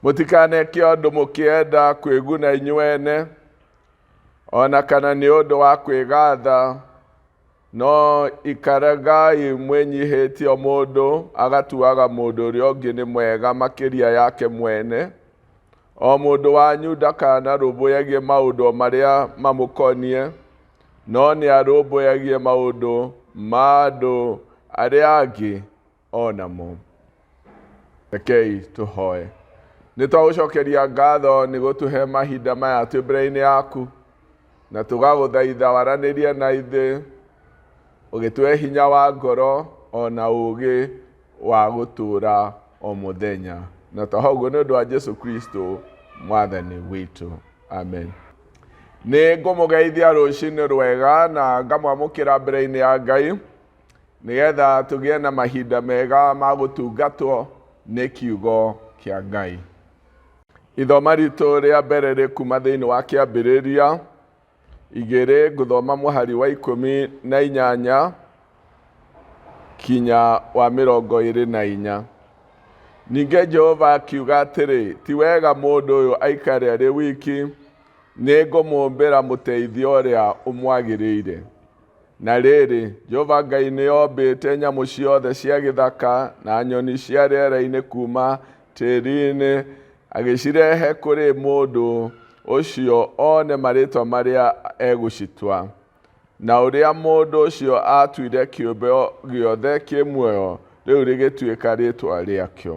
mũtikaneke ũndũ mũkĩenda kwĩguna inyuene o na kana nĩ ũndũ wa kwĩgatha No ikara ngai mwĩnyihĩtie mũndũ agatuaga mũndũ ũrĩa ũngĩ nĩ mwega makĩria yake mwene. O mũndũ wanyu ndakanarũmbũyagie maũndũ marĩa mamũkoniĩ, no nĩ arũmbũyagie maũndũ ma andũ arĩa angĩ. o namo rekei tũhoe nĩ twagũcokeria ngatho nĩ gũtũhe mahinda maya twĩ mbere-inĩ yaku na tũgagũthaitha waranĩrie na ithe ũgĩtũhe hinya wa ngoro o na ũũgĩ wa gũtũũra o mũthenya na twaho ũguo nĩ ũndũ wa jesu kristo mwathani witũ amen nĩ ngũmũgeithia rũcinĩ rwega na ngamwamũkĩra mbere-inĩ ya ngai nĩgetha tũgĩe na mahinda mega ma gũtungatwo nĩ kiugo kĩa Ngai. Ithoma ritũ rĩa mbere rĩ kuma thĩinĩ wa kĩambĩrĩria igĩrĩ ngũthoma mũhari wa ikũmi na inyanya kinya wa mĩrongo ĩrĩ na inya. Ningĩ Jehova akiuga atĩrĩ, ti wega mũndũ ũyũ aikare arĩ wiki, nĩ ngũmũmbĩra mũteithia ũrĩa ũmwagĩrĩire. Na rĩrĩ, Jehova Ngai nĩombĩte nyamũ ciothe cia gĩthaka na nyoni cia rĩera-inĩ kuuma tĩri-inĩ, agĩcirehe kũrĩ mũndũ ũcio one marĩtwa marĩa egũcitua. Na ũrĩa mũndũ ũcio aatuire kĩũmbe gĩothe kĩ muoyo, rĩu rĩgĩtuĩka rĩtwa rĩakĩo.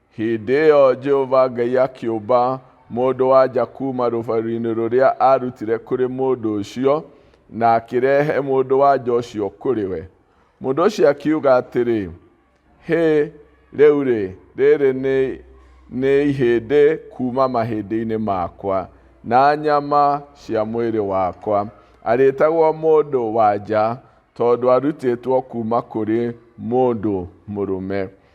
Hĩndĩ ĩyo Jehova Ngai akĩũmba mũndũ-wa-nja kuuma rũbaru-inĩ rũrĩa aarutire kũrĩ mũndũ ũcio, na akĩrehe mũndũ-wa-nja ũcio kũrĩ we. Mũndũ ũcio akiuga atĩrĩ, Hĩ, rĩu-rĩ, rĩrĩ nĩ, nĩ ihĩndĩ kuuma mahĩndĩ-inĩ makwa, na nyama cia mwĩrĩ wakwa. Arĩtagwo mũndũ-wa-nja, tondũ arutĩtwo kuuma kũrĩ mũndũ mũrũme.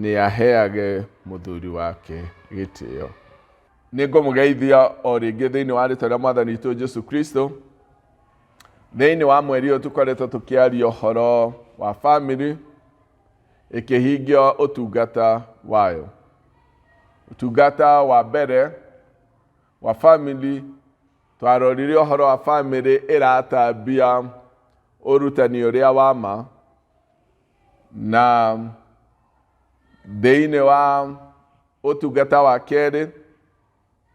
nĩ aheage mũthuri wake gĩtĩo. Nĩ ngũmũgeithia o rĩngĩ thĩinĩ wa rĩtwa rĩa mwathani witũ Jesu Kristo. Thĩinĩ wa mweri ũyũ tũkoretwo tũkĩaria ũhoro wa family ĩkĩhingia ũtungata wayo. Ũtungata wa mbere wa family twarorire ũhoro wa family ĩratambia ũrutani ũrĩa wa ma na thĩinĩ wa ũtungata wa kerĩ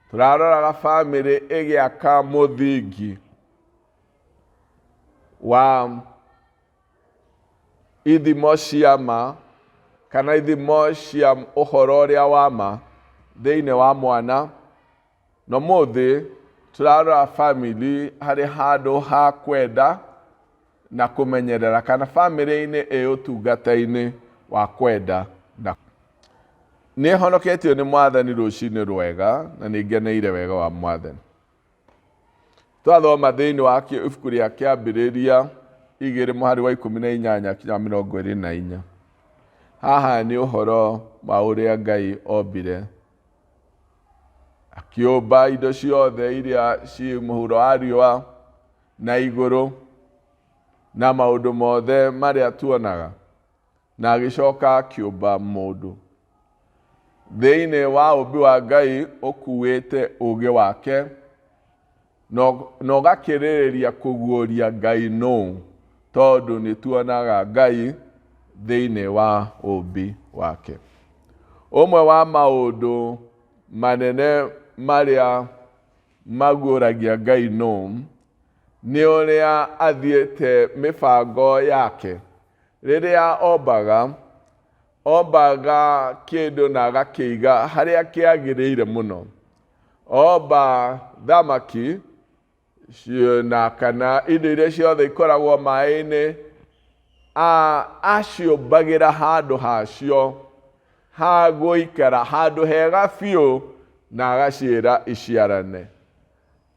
tũraroraga bamĩrĩ ĩgĩaka mũthingi wa ithimo cia ma kana ithimo cia ũhoro ũrĩa wa ma thĩinĩ wa mwana Na ũmũthĩ tũrarora famĩlĩ harĩ handũ ha kwenda na kũmenyerera kana famĩlĩ-inĩ ĩ ũtungata-inĩ wa kwenda na nĩ honoketio nĩ mwathani rũcinĩ rwega na nĩ ngeneire wega wa mwathani twathoma thĩinĩ wa ibuku rĩa kĩambĩrĩria igĩrĩ mũhari wa ikũmi na inyanya kinya mĩrongo ĩrĩ na inya haha nĩ ũhoro wa ũrĩa ngai ombire akĩũmba indo ciothe iria ciĩ mũhuro wa riũa na igũrũ na maũndũ mothe marĩa tuonaga na agĩcoka akĩũmba mũndũ thĩinĩ wa ũmbi wa ngai ũkuĩte ũgĩ wake na ũgakĩrĩrĩria kũguũria Ngai nũũ, tondũ nĩtuonaga Ngai thĩinĩ wa ũũmbi wake. Ũmwe wa maũndũ manene marĩa maguũragia Ngai nũũ, nĩ ũrĩa athiĩte mĩbango yake. Rĩrĩa ombaga, Ombaga kĩndũ na agakĩiga harĩa kĩagĩrĩire mũno. Omba thamaki na kana indo iria ciothe ikoragwo maĩ-inĩ, aciũmbagĩra handũ hacio ha gũikara, handũ hega biũ na agaciĩra iciarane.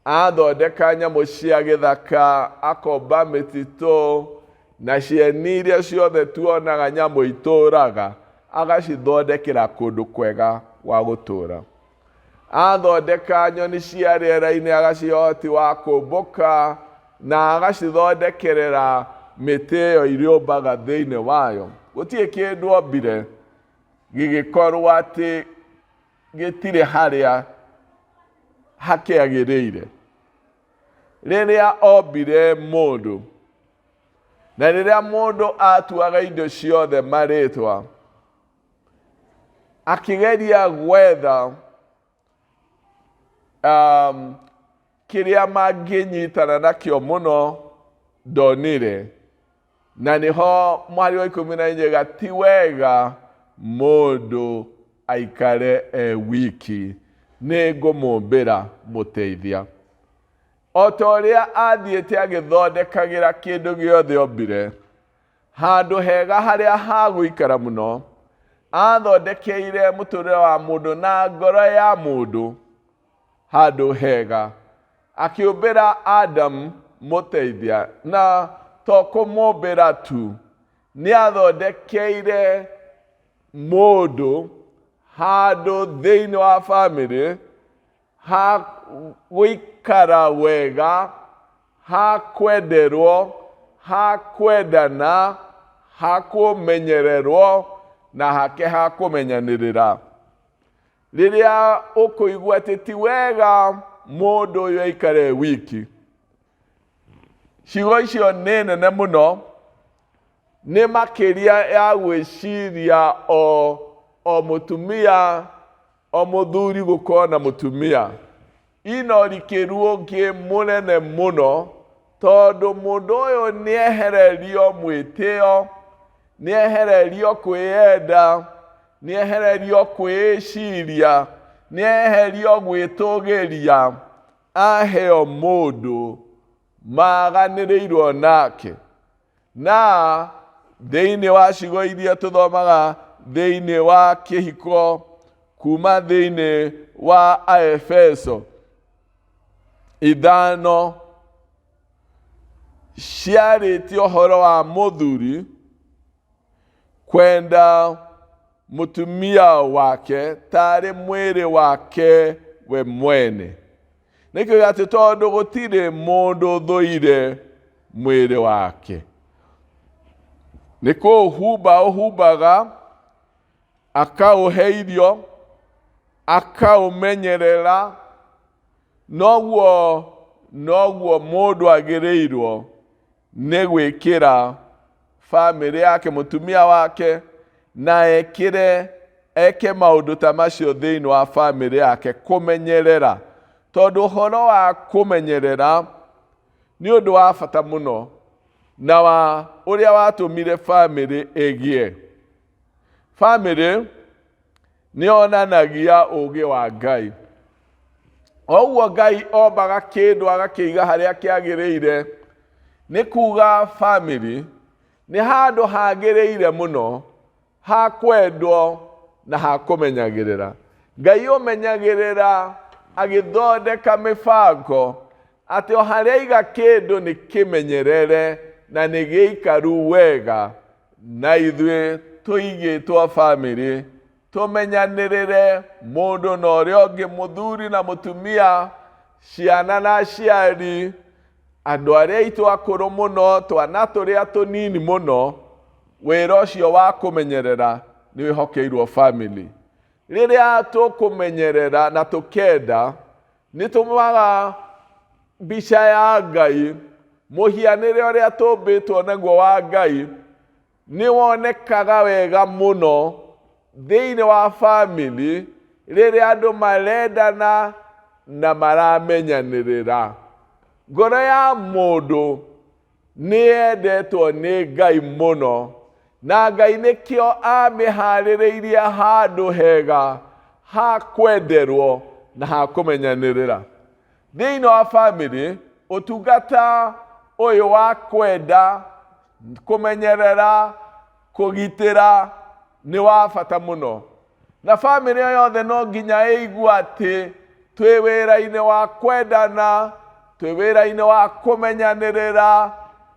Athondeka nyamũ cia gĩthaka, akomba mĩtitũ, na cieni iria ciothe tuonaga nyamũ itũũraga, agacithondekera kũndũ kwega gwa gũtũũra. Athondeka nyoni cia rĩera-inĩ, agacihe ũhoti wa kũmbũka, na agacithondekerera mĩtĩ ĩyo irĩũmbaga thĩinĩ wayo. Gũtirĩ kĩndũ ombire gĩgĩkorwo atĩ gĩtirĩ harĩa hakĩagĩrĩire rĩrĩa ombire mũndũ na rĩrĩa mũndũ atuaga indo ciothe marĩtwa akĩgeria gwetha um, kĩrĩa mangĩnyitana nakĩo mũno ndonire Na nĩho mwarĩ wa ikũmi na inyega ti wega mũndũ aikare e wiki, nĩ ngũmũmbĩra mũteithia. O ta ũrĩa athiĩte agĩthondekagĩra kĩndũ gĩothe ombire handũ hega harĩa hagũikara mũno, athondekeire mũtũrĩre wa mũndũ na ngoro ya mũndũ handũ hega. Akĩũmbĩra Adamu mũteithia, na to kũmũmbĩra tu, nĩ athondekeire mũndũ handũ thĩinĩ wa bamĩrĩ ha gũikara wega, ha kwenderwo, ha kwendana, ha kũmenyererwo na hake ha kũmenyanĩrĩra. rĩrĩa ũkũigua atĩ ti wega mũndũ ũyũ aikare wiki ciugo icio nĩ nene mũno nĩ makĩria ya gwĩciria o o mũtumia o mũthuri gũkorwo na mũtumia Ino rĩkĩruo ngĩ mũnene mũno tondũ mũndũ ũyũ nĩehererio mwĩtĩo, nĩehererio kwĩyenda, nĩehererio kwĩĩciria, nĩeherio gwĩtũgĩria, aheo mũndũ maaganĩrĩirwo nake. Na thĩinĩ wa cigo iria tũthomaga thĩinĩ wa kĩhiko kuma thĩinĩ wa Aefeso ithano ciarĩtie ũhoro wa mũthuri kwenda mũtumia wake tarĩ mwĩrĩ wake we mwene nĩkĩo atĩ tondũ gũtirĩ mũndũ thũire mwĩrĩ wake nĩ kũũhumba ũhumbaga akaũhe irio akaũmenyerera noguo noguo mũndũ agĩrĩirwo nĩ gwĩkĩra famĩlĩ yake mũtumia wake na ekĩre eke maũndũ ta macio thĩinĩ wa famĩlĩ yake kũmenyerera tondũ ũhoro wa kũmenyerera nĩ ũndũ wa bata mũno na wa ũrĩa watũmire famĩlĩ ĩgĩe famĩlĩ nĩ onanagia ũũgĩ wa ngai oguo ngai ombaga kĩndũ agakĩiga harĩa kĩagĩrĩire nĩ kuga family nĩ handũ hagĩrĩire mũno ha kwendwo na ha kũmenyagĩrĩra ngai ũmenyagĩrĩra agĩthondeka mĩbango Atĩ o harĩa iga kĩndũ nĩ kĩmenyerere na nĩ gĩikaru wega, na ithuĩ tũigĩtwo bamĩrĩ, tũmenyanĩrĩre mũndũ na ũrĩa ũngĩ, mũthuri na mũtumia, ciana na aciari, andũ arĩa aitũ akũrũ mũno, twana tũrĩa tũnini mũno, wĩra ũcio wa kũmenyerera nĩ wĩhokeirwo bamĩrĩ. Rĩrĩa tũkũmenyerera na tũkenda, nĩtũmũaga mbica ya ngai mũhianĩre ũrĩa tũmbĩtwo naguo wa ngai nĩ wonekaga wega mũno thĩinĩ wa famĩlĩ rĩrĩa andũ marendana na maramenyanĩrĩra ngoro ya mũndũ Nĩ endetwo nĩ Ngai mũno, na Ngai nĩkĩo amĩhaarĩrĩirie handũ hega ha kwenderwo na ha kũmenyanĩrĩra. Thĩinĩ wa famĩlĩ, ũtungata ũyũ wa kwenda, kũmenyerera, kũgitĩra, nĩ wa bata mũno na bamĩrĩ ĩyo yothe no nginya ĩigua atĩ twĩ wĩra-inĩ wa kwendana twĩ wĩra-inĩ wa kũmenyanĩrĩra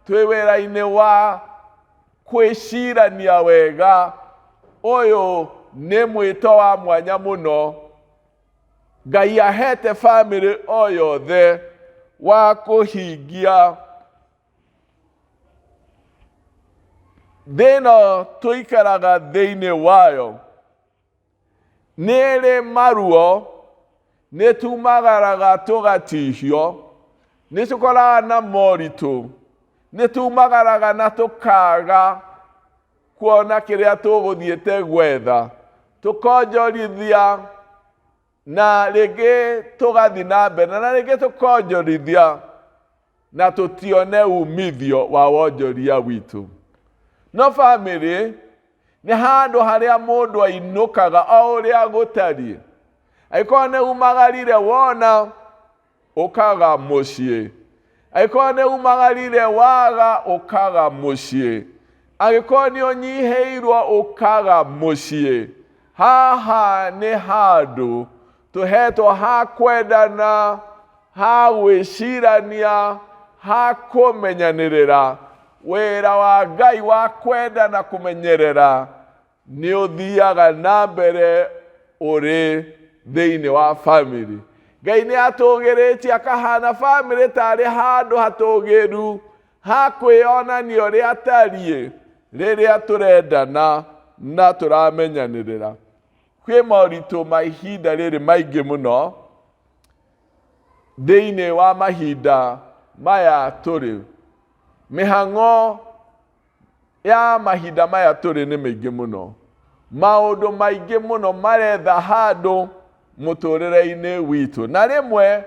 twĩ wĩra-inĩ wa kwĩcirania wega ũyũ nĩ mwĩto wa mwanya mũno ngai ahete bamĩrĩ o yothe wa kũhingia Thĩna ũyũ tũikaraga thĩinĩ wayo nĩrĩ maruo nĩtumagaraga tũgatihio nĩtũkoraga na moritũ nĩtumagaraga na tũkaga kuona kĩrĩa tũgũthiĩte gwetha tũkonjorithia na rĩngĩ tũgathi na mbere na rĩngĩ tũkonjorithia na tũtione umithio wa wonjoria witũ no bamĩrĩ nĩ handũ harĩa mũndũ ainũkaga o ũrĩa gũtariĩ angĩkorwo nĩ umagarire wona Ũkaaga mũciĩ. Angĩkorwo nĩ umagarire waga ũkaga mũciĩ angĩkorwo nĩ ũnyihĩirwo ũkaga mũciĩ haha nĩ handũ tũhetwo ha kwendana ha gwĩcirania ha kũmenyanĩrĩra wĩra wa ngai wa kwenda na kũmenyerera nĩ ũthiaga na mbere ũrĩ thĩinĩ wa bamĩrĩ ngai nĩ atũgĩrĩtie akahana bamĩrĩ tarĩ handũ hatũgĩru ha kwĩyonania ũrĩa atariĩ rĩrĩa tũrendana na tũramenyanĩrĩra kwĩ moritũ ma ihinda rĩrĩ maingĩ mũno thĩinĩ wa mahinda maya tũrĩ mĩhang'o ya mahinda maya tũrĩ nĩ mĩingĩ mũno maũndũ maingĩ mũno maretha handũ mũtũrĩre-inĩ witũ na rĩmwe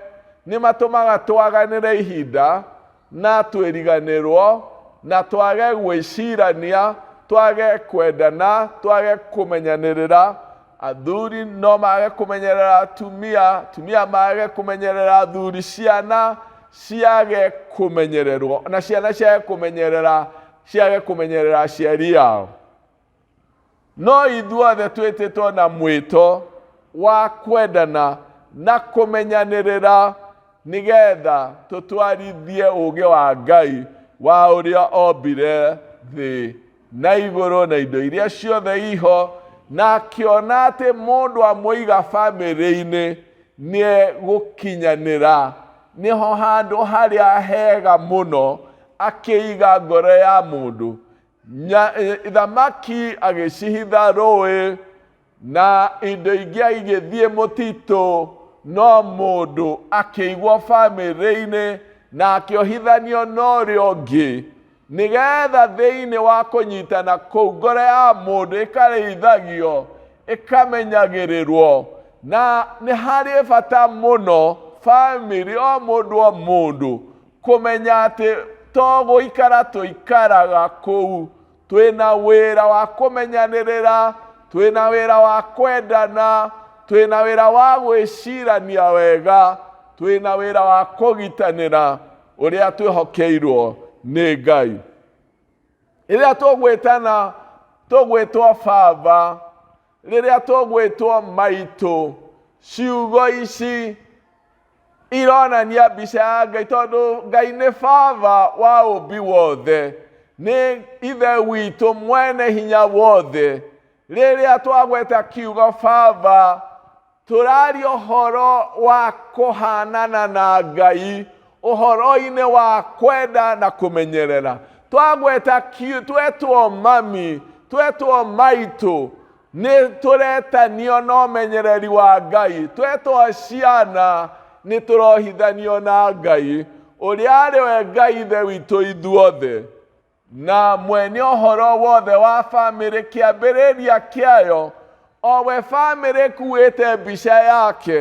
nĩ matũmaga twaganĩre ihinda na twĩriganĩrwo na twage gwĩcirania twage kwendana twage kũmenyanĩrĩra athuri no mage kũmenyerera atumia atumia mage kũmenyerera athuri ciana ciage kũmenyererwo na ciana ciage kũmenyerera ciage kũmenyerera aciari yao no ithuothe twĩtĩtwo na mwĩto wa kwendana na kũmenyanĩrĩra nĩgetha tũtwarithie ũũgĩ wa ngai wa ũrĩa ombire thĩ na igũrũ na indo iria ciothe iho na akĩona atĩ mũndũ amũiga bamĩrĩ-inĩ nĩ gũkinyanĩra nĩho handũ harĩa hega mũno akĩiga ngoro ya mũndũ Nya- eh, thamaki agĩcihitha rũĩ na indo ingĩ igĩthiĩ mũtitũ no mũndũ akĩigwo bamĩrĩ-inĩ na akĩohithanio na ũrĩa ũngĩ nĩgetha thĩinĩ wa kũnyitana kũu ngoro ya mũndũ ĩkarĩithagio ĩkamenyagĩrĩrwo na nĩ harĩ bata mũno bamĩrĩ o mũndũ o mũndũ kũmenya atĩ to gũikara tũikaraga kũu twĩ na wĩra wa kũmenyanĩrĩra twĩ na wĩra wa kwendana twĩ na wĩra wa gwĩcirania wega twĩ na wĩra wa kũgitanĩra ũrĩa twĩhokeirwo nĩ ngai rĩrĩa tũgwĩtana tũgwĩtwo baba rĩrĩa tũgwĩtwo maitũ ciugo ici ironania mbica ya ngai tondũ ngai nĩ baba wa ũmbi wothe nĩ ithe witũ mwene hinya wothe rĩrĩa twagweta kiugo baba tũraria ũhoro wa kũhanana na ngai ũhoro-inĩ wa kwenda na kũmenyerera twagweta ki- twetwo mami twetwo maitũ nĩ tũretanio na ũmenyereri wa ngai twetwo ciana nĩ tũrohithanio na ngai ũrĩa arĩ we ngai ithe witũ ithuothe Na mwene ũhoro wothe wa bamĩrĩ kĩambĩrĩria kĩayo, o we bamĩrĩ ĩkuĩte mbica yake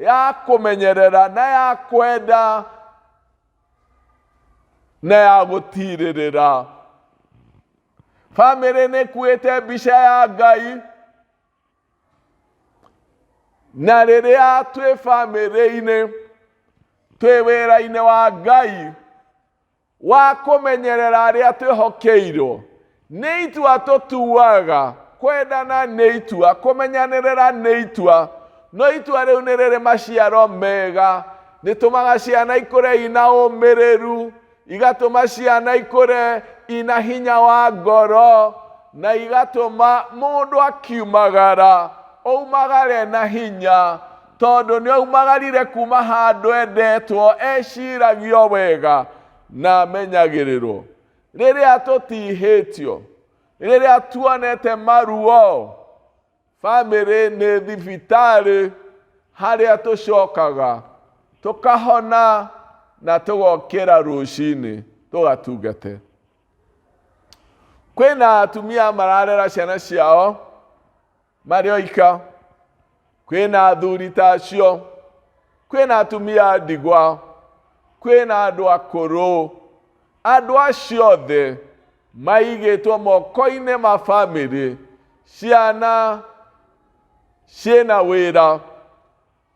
ya kũmenyerera na ya kwenda na ya gũtirĩrĩra. Bamĩrĩ nĩ ĩkuĩte mbica ya Ngai, na rĩrĩa twĩ bamĩrĩ-inĩ twĩ wĩra-inĩ wa Ngai, wa kũmenyerera arĩa twĩhokeirwo nĩ itua tũtuaga kwendana nĩ itua kũmenyanĩrĩra nĩ itua no itua rĩu nĩ rĩrĩ maciaro mega rĩtũmaga ciana ikũre ina ũmĩrĩru igatũma ciana ikũre ina hinya wa ngoro na igatũma mũndũ akiumagara oumagare na hinya Tondũ nĩoimagarire kuuma handũ endetwo, eciragio wega, na amenyagĩrĩrwo. Rĩrĩa tũtihĩtio, rĩrĩa tuonete maruo, famĩlĩ nĩ thibitarĩ harĩa tũcokaga, tũkahona na tũgokĩra rũcinĩ tũgatungate. Kwĩna atumia mararera ciana ciao. marĩ oika kwĩna athuri ta acio kwĩna atumia a ndigwa kwĩna andũ akũrũ andũ acio othe maigĩtwo moko-inĩ ma bamĩrĩ ciana ciĩna wĩra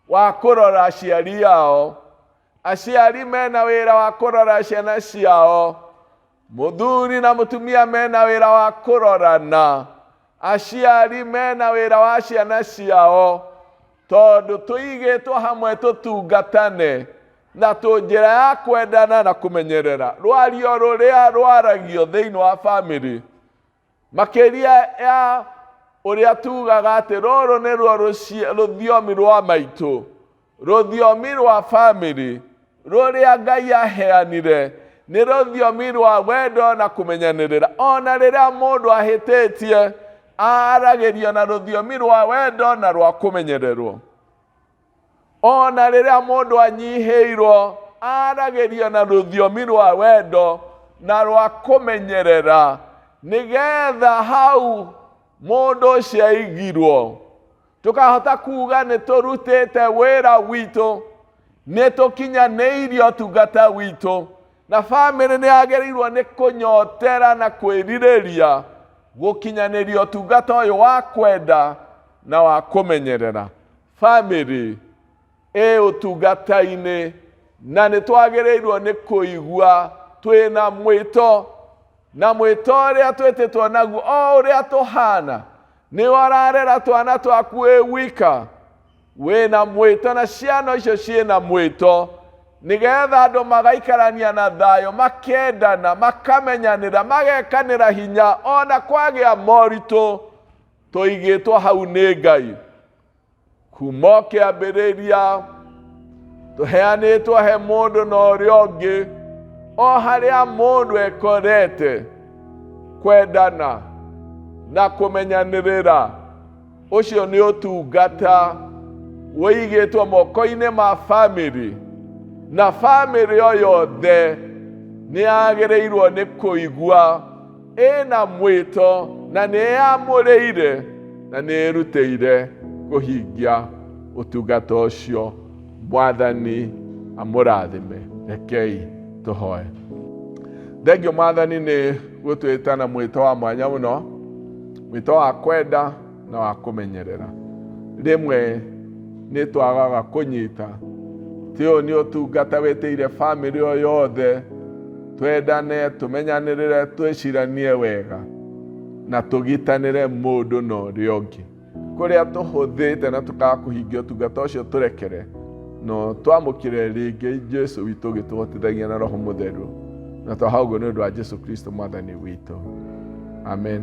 wa kũrora aciari ao aciari mena wĩra wa kũrora ciana ciao mũthuri na mũtumia mena wĩra wa kũrorana aciari mena wĩra wa ciana ciao tondũ tũigĩtwo hamwe tũtungatane na tũ njĩra ya kwendana na kũmenyerera rwario rũrĩa rwaragio thĩinĩ wa bamĩrĩ makĩria ya ũrĩa tugaga atĩ rũrũ nĩruo rũci- rũthiomi rwa maitũ rũthiomi rwa bamĩrĩ rũrĩa ngai aheanire nĩ rũthiomi rwa wendo na kũmenyanĩrĩra o na rĩrĩa mũndũ ahĩtĩtie aragĩrio na rũthiomi rwa wendo na rwa kũmenyererwo o na rĩrĩa mũndũ anyihĩirwo aragĩria na rũthiomi rwa wendo na rwa kũmenyerera nĩgetha hau mũndũ ũcio aigirwo tũkahota kuga nĩ tũrutĩte wĩra witũ nĩ tũkinyanĩirie ũtungata witũ na bamĩrĩ nĩ yagĩrĩirwo nĩ kũnyotera na kwĩrirĩria gũkinyanĩria ũtungata ũyũ wa kwenda na wa kũmenyerera Famĩlĩ ĩ ũtungata-inĩ na nĩ twagĩrĩirwo nĩ kũigua twĩ na mwĩto na mwĩto ũrĩa twĩtĩtwo naguo o ũrĩa tũhana nĩ wararera twana twaku wĩ wika wĩ na mwĩto na ciana icio ciĩ na mwĩto nĩgetha andũ magaikarania na thayũ makendana makamenyanĩra magekanĩra hinya ona kwagĩa moritũ tũigĩtwo hau nĩ ngai kuma o kĩambĩrĩria tũheanĩtwo he mũndũ na ũrĩa ũngĩ o harĩa mũndũ ekorete kwendana na kũmenyanĩrĩra ũcio nĩ ũtungata wĩigĩtwo moko-inĩ ma famĩlĩ na famĩlĩ o yothe nĩ yagĩrĩirwo nĩ kũigua ĩna mwĩto na nĩyamũrĩire na nĩĩrutĩire kũhingia ũtungata ũcio mwathani amũrathime rekei tũhoe thengio mwathani nĩ gũtwĩta na mwĩto wa mwanya mũno mwĩto wa kwenda na wa kũmenyerera rĩmwe nĩ twagaga kũnyita ti ũyũ nĩ ũtungata wĩtĩire bamĩrĩ o yothe twendane tũmenyanĩrĩre twĩciranie wega na tũgitanĩre mũndũ na ũrĩa ũngĩ kũrĩa tũhũthĩte na tũkaga kũhingia ũtungata ũcio tũrekere no twamũkĩre rĩngĩ jesu witũ ũgĩtũhotithagia na roho mũtheru na twaha ũguo nĩ ũndũ wa jesu kristo mwathani witũ amen